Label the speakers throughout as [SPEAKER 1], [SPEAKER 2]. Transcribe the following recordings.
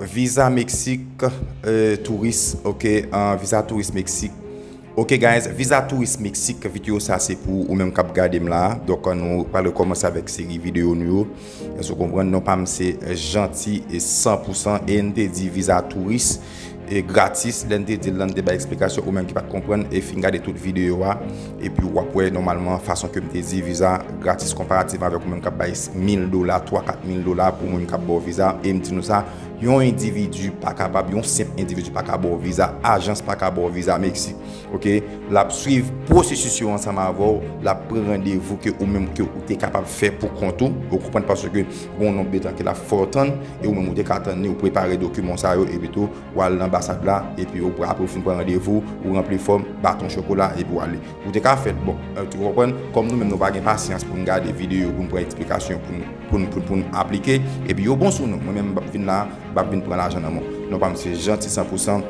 [SPEAKER 1] Visa mexique touris ok visa touris mexique ok guys visa touris mexique video sa se pou ou menm kap gadem la donk nou pral kòmanse avèk seri video nou yo èske ou konprann non pam se janti e san pou san e nou te di visa touris e gratis lèn te dil lan nou te bay eksplikasyon ou menm ki pat konprann e fin gade tout video a Epi wap wè nòmalman fason kem te di viza gratis konparativman avèk ou menm kap bay 1000 dola, 3 4 mil dola pou moun kap baw viza em di nou sa yon individu pa kapab yon senp individu pa ka baw viza ajans pa ka baw viza Meksik ok lap swiv pwosesis yo ansanm avèw lap pran randevou ke ou menm ke ou te kapab fè pou kont ou ou konprann paske gon nonb de tan ke lap fè w tann e ou menm ou te ka tann ni ou prepare dokiman w sa yo epi tou Ou al nan anbasad la, epi ou apre ou fin pran randevou, ou ranpli fòm, baton chokola, epi ou ale. Ou te ka fèt bon. Ou konprann? Kòm nou menm nou pa gen pasyans pou n gade videyo, pou n pran eksplikasyon, pou n, pou n, pou n aplike, epi yo bon sou nou. Mwen menm m ap vin la a, m ap vin pran lajan nan men w. Non pa m se Jeanty San Pou San.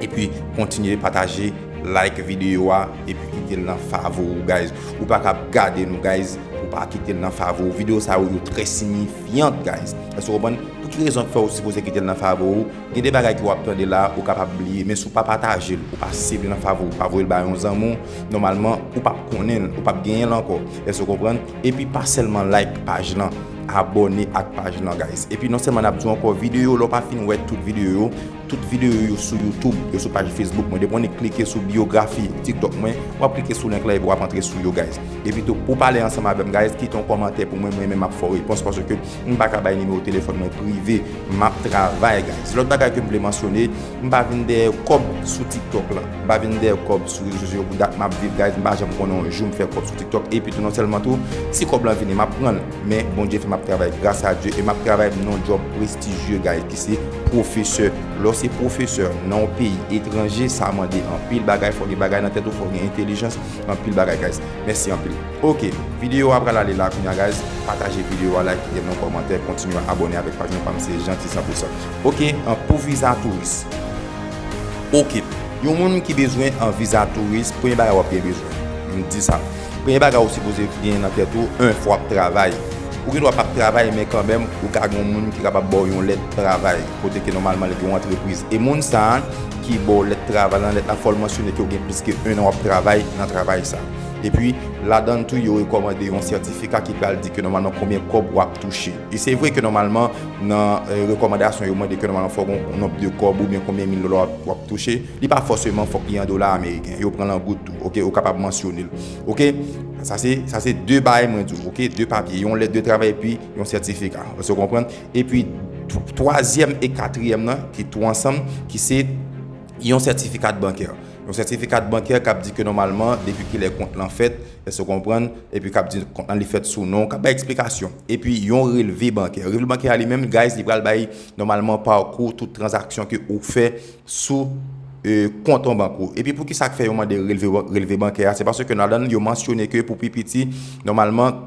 [SPEAKER 1] Epi kontinye pataje, like videyo a, epi kite l nan favori w guys. Ou pa ka ap gade nou guys pou w pa kite l nan favori w. Videyo sa yo yo trè sinyifyant guys. Èske w konprann? Pou ki rezon k fè ou sipoze kite l nan favo ou? Gen de bagay ke w ap tande la a ou kapab bliye, men si w pa pataje l, ou pa save l nan favo, ou pa voye l ba yon zanmi w, nòmalman ou p ap konnen l, ou p ap genyen l ankò. Èske w konprann? Epi pa sèlman like paj lan, abòne ak paj lan guys. Epi non sèlman n ap di w ankò, videyo yo lè w pa fin wè tout videyo yo, tout videyo yo sou youtube, yo sou paj facebook mwen, depi w annik klike sou biyografi tiktok mwen, w ap klike sou link lan epi w ap antre sou yo guys. Epi tou pou w pale ansanm avè m guys, kite yon kòmantè pou mwen, mwen menm m ap fè w repons paske M paka bay nimewo telefòn mwen prive map travay guys. Lòt bagay kem vle mansyone m pa vin dèyè kòb sou tiktok lan m pa vin dèyè kòb sou rezo sosyo pou dat map viv guys m pa janm konnen yon jou m fè kòb sou tiktok epi tou non sèlman tou si kòb lan vini map pranl men Bondye fè map travay gras a Dye e map travay m nan yon djòb prestijye guys ki se pwofesè lèw se pwofesè nan yon peyi etranje sa mande anpil bagay fò gen bagay nan tèt ou fò gen entelijans anpil bagay guys mèsi anpil. Ok video a pral ale la kounya guys pataje video a like kite bon kòmantè kontinye abòne avèk paj mwen pam se Jeanty Sans Pression ok pou viza touris ok yon moun ki bezwen an viza touris premye bagay wap gen bezwen m di sa premye bagay ou sipoze gen nan tèt ou 1 fwa wap travay ou gen dwa pap travay men kanmèm ou ka gen yon moun ki kapab baw yon lèt travay kote ke nòmalman li gen yon antrepriz e moun sa ki baw lèt travay lan lèt la fòl mansyone ke ou gen plis ke 1 an wap travay nan travay sa. Epi, ladan l tou yo rekòmande yon sètifika ki pral di ke nòmalman konbyen kòb w ap touche. E se vre ke nòmalman nan rekòmandasyon yo mande ke nòmalman fòk ou gen nonb de kòb oubyen konbyen mil dola w ap touche. Li pa fòseman fòk li an dola ameriken. Yo pran l an goud tou, oke. Ou kapab mansyone l, oke. Sa se, sa se de bagay mwen di w, oke, de papye. Yon lèt de travay epi yon sètifika. Èske w konprann? Epi, twazyèm e katriyèm nan ki tou ansanm, ki se. Yon sètifikat bankè. Yon sètifikat bankè k ap di ke nòmalman depi kilè kont lan fèt, èske w konprann, epi k ap di kont lan li fèt sou non w, k ap bay eksplikasyon. Epi yon relve bankè. Relve bankè a li menm guys li pral bay nòmalman pakou tout tranzaksyon ke ou fè sou kont an bank ou. Epi poukisa k fè yo mande relve relve bankè a? Se paske ladan l yo mansyone ke pou pi piti nòmalman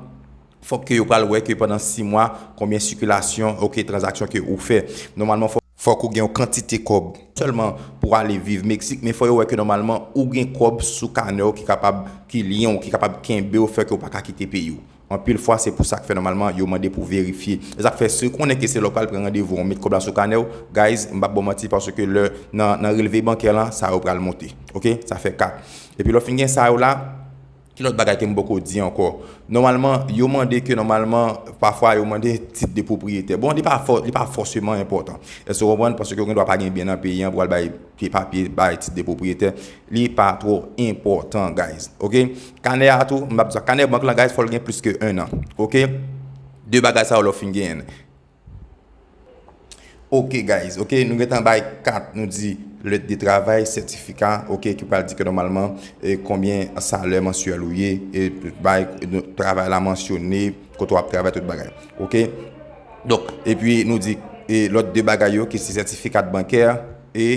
[SPEAKER 1] fòk ke yo pral wè ke pandan 6 mwa konbyen sikilasyon, ok, tranzaksyon ke ou fè. Nòmalman fòk. Fòk ou gen yon kantite kòb. Sèlman pou ale viv Meksik, men fò yo wè ke nòmalman ou gen kòb sou kanè w ki kapab, ki lyen w, ki kapab kenbe w, fè ke w pa ka kite peyi w. Anpil fwa se pou sa k fè nòmalman yo mande pou verifye. E sa k fè si w konnen ke se lè w pral pran randevou an, met kòb la sou kanè w, guys, m p ap ba w manti paske lè nan nan relve bankè lan, sa yo pral monte. Ok? Sa fè 4. Epi lè w fin gen sa yo la, Ki lòt bagay ke m poko di ankò? Nòmalman, yo mande ke nòmalman, pafwa yo mande tit de pwopriyetè. Bon, li pa fò, li pa fòseman enpòtan. Èske w konprann? Paske ou gen dwa pa gen byen nan peyi an pou w al bay pye papye, bay tit de pwopriyetè. Li pa twò enpòtan, guys. Ok? Kanè a tou, m ap di sa. Kanè bank lan, guys, fò l gen plis ke 1 an. Ok? 2 bagay sa yo lè w fin genyen l. Ok guys ok nou gentan bay kat nou di lè de travay sètifika ok ki pral di ke nòmalman e konbyen salè mansyèl ou ye e bay travay la mansyone kote wap travay tout bagay ok donk epi nou di e lòt de bagay yo ki se sètifikat bankè E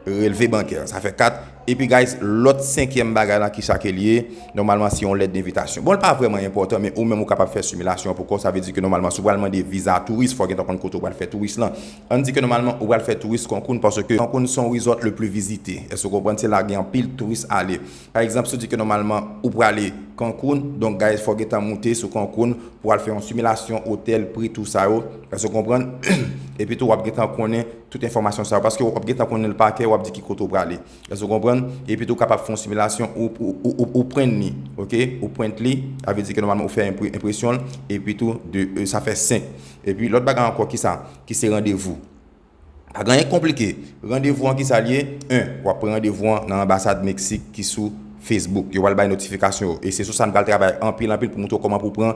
[SPEAKER 1] relve bankè. Sa fè 4. Epi guys, lòt senkyèm bagay la kisa ke li ye? Nòmalman se yon lèt denvitasyon. Bon li pa vrèman enpòtan men ou menm ou kapab fè similasyon an pou kòw. Sa vle di ke nòmalman si w pral mande viza touris fòw gentan konn kote ou pral fè touris lan. Ann di ke nòmalman ou pral fè touris Cancun paske Cancun se yon resort le plus visite. Èske w konprann? Se la gen anpil touris ale. Pa egzanp, si w di ke nòmalman ou prale Cancun, donk guys fò w gentan moute sou Cancun pou w al fè yon similasyon otèl, pri, tou sa yo. Èske w konprann? Epi tou w ap gentan konnen tout enfòmasyon sa yo paske w ap gentan konnen l pa kè, w ap di ki kote w prale. Èske w konprann? Epi tou w kapab fè yon similasyon, ou print li, ok, ou print li, sa vle di ke nòmalman ou fè enpresyon l, epi tou 2, sa fè 5. Epi lòt bagay ankò ki sa? Ki se randevou. Pa gen anyen ki konplike. Randevou an kisa l ye? 1, Wap pran randevou an nan anbasad Meksik ki sou Facebook. Yo pral bay notifikasyon yo. E se sou sa n pral travay anpil anpil pou montre w kòman pou w pran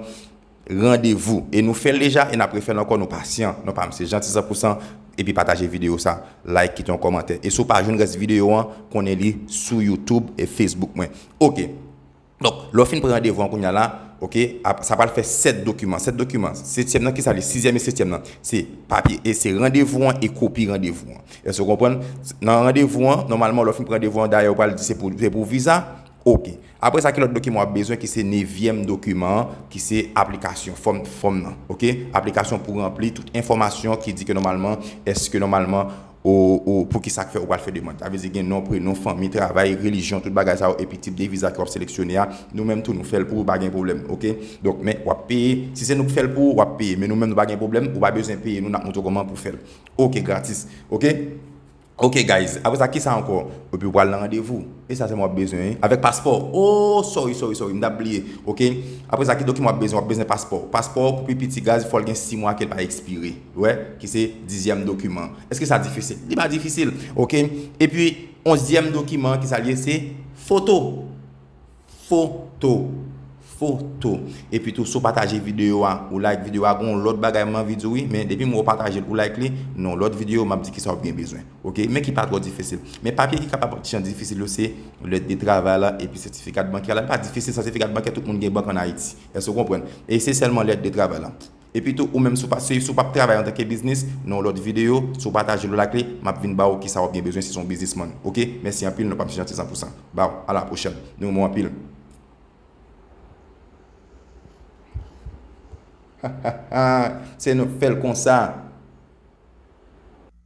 [SPEAKER 1] randevou. E nou fè l deja e n ap refè l ankò. Nou pasyan. Nou pa m se Jeanty san pou san. Epi pataje videyo sa. Like, kite yon kòmantè. E si w pa jwenn rès videyo an, konnen li sou YouTube e Facebook mwen. Ok. Donk, lè w fin pran randevou an kounya la, ok, ap, sa pral fè 7 dokiman. 7 dokiman. Setyèm nan, ki sa l ye? Sizyèm e setyèm nan. Se papye, e se randevou an e kopi randevou an. Èske w konprann? Nan randevou an, nòmalman lè w fin pran randevou an, dayè ou pral di se pou, se pou viza. Ok. Apre sa ki lòt dokiman w ap bezwen ki se nevyèm dokiman an, ki se aplikasyon, fòm, fòm nan. Ok. Aplikasyon pou ranpli, tout enfòmasyon ki di ke nòmalman, èske nòmalman. O O Poukisa k fè ou pral fè demand? Sa vle di gen non, prenon, fanmi, travay, relijyon, tout bagay sa yo epi tip de viza ke wap seleksyone a, nou menm tou nou fèl pou ou pa gen pwoblèm ok. Donk men wap peye, si se nou k fèl pou ou wap peye men nou menm nou pa gen pwoblèm ou pa bezwen peye nou nap montre w kòman pou fèl ok gratis ok ok guys apre sa kisa ankò epi ou pral nan randevou e sa sèlman wap bezwen wi avèk paspò o sorry sorry sorry m tap bliye ok apre sa ki dokiman wap bezwen wap bezwen paspò paspò pou pi piti guys fòl gen 6 mwa kel pa ekspire. Wè, ki se dizyèm dokiman. Eske sa difisil? Li pa difisil. Ok. Epi, onzyèm dokiman an ki sa l ye? Se foto. Foto. Foto. Epi tou, si w pataje videyo a, ou like videyo a, gen yon lòt bagay m anvi di w wi. Men, depi m wè w pataje l, ou like li, nan yon lòt videyo, m ap di ki sa w gen bezwen. Ok. Men ki pa twò difisil. Men papye ki kapab ti jan difisil yo se lèt de travay la epi sètifika de bankè la. Li pa difisil, sètifika de bankè tout moun gen bank ann Ayiti. Èske w konprann? E se sèlman lèt de travay la. Epitou ou menm si w pa si w pa p travay antanke biznis nan yon lòt videyo si w pataje l lak li m ap vin ba w kisa w ap gen bezwen si se yon biznismann ok mèsi anpil non pa mnje antizan pou sa baww alapwochèn nou renmen w anpil. Hahahaa se nou k fèl konsa.